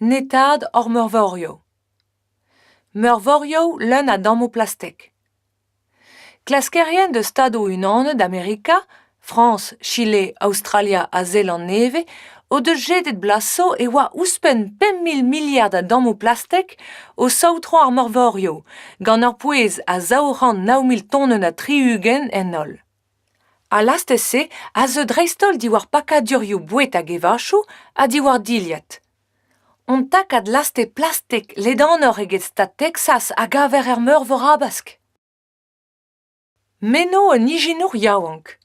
Netaat hor meurvorioù. Meurvorioù leun a dammoù plastek. Klaskerien deus Stadoù-Unanet Amerika, Frañs, Chile, Aostralia ha Zeland Nevez o deus jedet blaso e oa ouzhpenn pemp mil miliard a dammoù plastek o saotrañ ar meurvorioù, gant ur pouez a zaou c'hant nav mil tonenn ha tri-ugent en holl. Al lastez-se a zeu dreist-holl diwar pakadurioù boued hag evachoù ha diwar dilhad. Hon takad lastez plastek ledanoc'h eget stad Texas a gaver er Meurvor Habask. Meno un ijinour yaouank.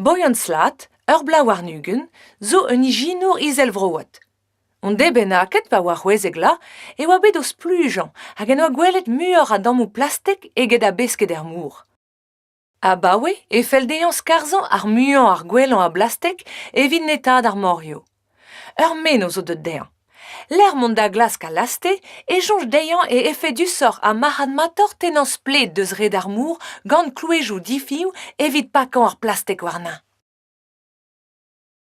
Boyan-slat, ur bloaz warn-ugent, zo un ijinour izelvroat. Hon dez bennaket pa oa c'hwezek-la e oa bet o splujañ hag en doa gwelet muioc'h a dammoù plastek eget a besked er mor. Abaoe e fell dezhañ skarzhañ ar muiañ ar gwellañ a blastek evit netaat ar morioù. Ur menoz eo deuet dezhañ. Lec'h mont da glask al laste e soñj dezhañ e efedusoc'h ha marc'hadmatoc'h tennañ splet deus red ar mor gant klouezhioù difiñv evit pakañ ar plastek warnañ.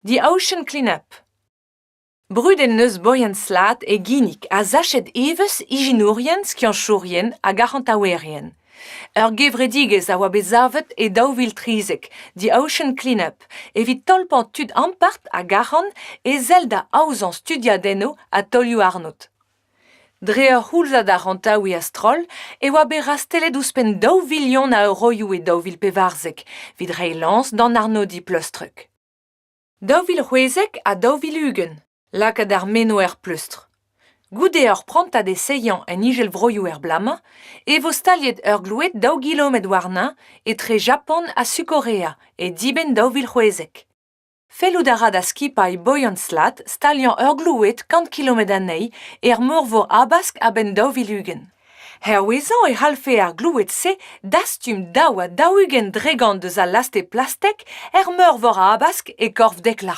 The Ocean Cleanup Brudet en deus bourien-slat e ginnig ha sachet evezh ijinourien, skianchourien hag arc'hantaouerien. Ur gevredigezh a oa bet savet e daou vil trizek, The Ocean Cleanup, evit tolpañ tud ampart hag arc'hant e sell da aozañ studiadennoù ha taolioù-arnod. Dre ur c'houlzad arc'hantaouiñ a-stroll e oa bet rastellet ouzhpenn daou vilion a euroioù e daou vil pevarzek evit reiñ lañs d'an arnodiñ pleustrek. Daou vil c'hwezek ha daou vil ugent lakaat ar meno er pleustr. Goude ur prantad essayañ en Izelvroioù er bloaz-mañ e vo staliet ur gloued daou gilometr warnañ etre Japan ha Sukorea e dibenn daou vil c'hwezek. Fellout a ra da skipailh Boyan-Slat staliañ ur gloued kant kilometr anezhi er Morvor Habask a-benn daou vil ugent. Hervezañ e c'hallfe ar gloued-se dastum daou ha daou-ugent dregont eus al laste plastek er Meurvor Habask e korf Dekla.